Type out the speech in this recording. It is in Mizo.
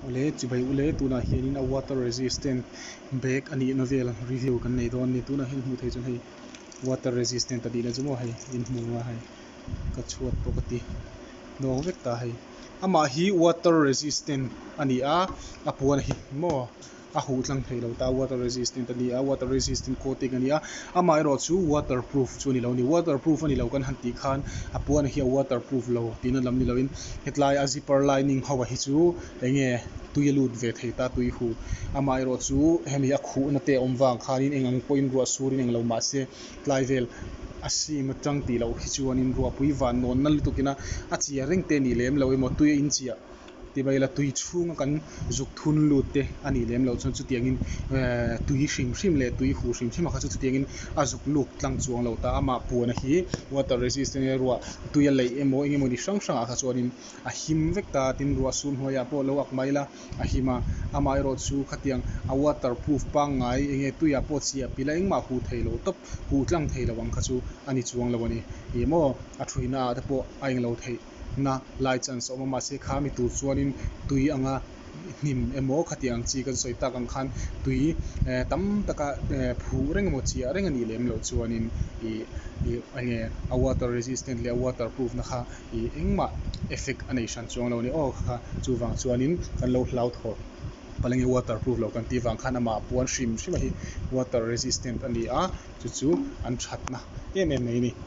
Ule chi bai ule, tunah hianin a water resistant bag a nihna vel review kan nei dawn a ni. Tunah hian hmuh theih chuan hei water resistant a nihna chu maw hei in hmu a hei ka chhuat bawk a ti nawk vek ta hei. Amah hi water resistant a ni a, a puan hi maw. A huh tlang theih lo ta water resistant a ni a, water resistant coating a ni a, amah erawh chu water proof chu a ni lo a ni. Water proof a ni lo kan han tih khan a puan hi a water proof lo tihna lam ni lo in hetlai a zipper lining ho a hi chu enge tui a lut ve thei ta tui huh amah erawh chu hemi a khuh na te awm vang khan in eng ang pawhin ruah sur in englo mah se tlai vel a seam atang tih loh hi chuan in ruahpui van nawn na lutuk in a a chia reng te nih lem lo emaw tui a in chiah Ti mai ila tui chhunga kan zuk thun lut te a nih lem lo chuan chutiangin tui hrim hrim leh tui huh hrim hrim a kha chu chutiangin a zuk luk tlang chuang lo ta a. Mah puana hi water resist enge ruah tui a leih emaw enge mawni hrang hrangah kha chuanin a him vek ta tin ruah sun hnuaiah pawh lo ak mai la a him a. Amah erawh chu khatiang a water proof pangngai enge tuiah pawh chhiah pila engmah huh thei lo tawp huh tlang thei lo ang kha chu a ni chuang lo a ni. Ih maw a thui naah te pawh a eng lo theih. na lai chi an sawi awm a, mahse kha mi tur chuanin tui anga hnim emaw khatiang ang chi kan sawi tak ang khan tui eh tam taka eh phuh reng emaw chiah reng a nih lem loh chuanin ih ih enge a water resistant leh a water proof na kha ih engmah effect a nei hran chuang lo a ni aw ka kha chuvang chuanin kan lo hlauthawh pal enge water proof lo kan tih vang khan amah a puan hrim hrima hi water resistant a ni a chu chu an that na em em mai a ni.